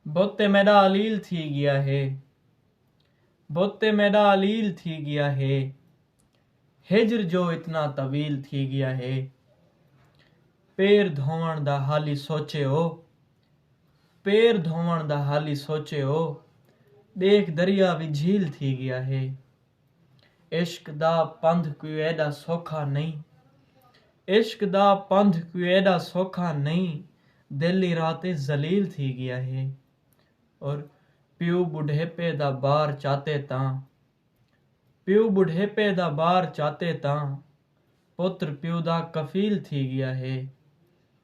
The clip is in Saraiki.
بت تے میݙا علیل تھی ڳیا ہے بت تے میݙا علیل تھی ڳیا ہے ہجر جو اتنا طویل تھی ڳیا ہے پیر دھووݨ دا حالی سوچے او پیر دھووݨ دا حالی سوچے او ݙیکھ دریا وی جھیل تھی ڳیا ہے عشق دا پندھ کوئی ایݙا سوکھا نئیں عشق دا پندھ کوئی ایݙا سوکھا نئیں دل ایں راہ تے ذلیل تھی ڳیا ہے اور پیو ٻڈھیپے دا بار چاتے تاں پیو ٻڈھیپے دا بار چاتے تاں پتر پیو دا کفیل تھی ڳیا ہے۔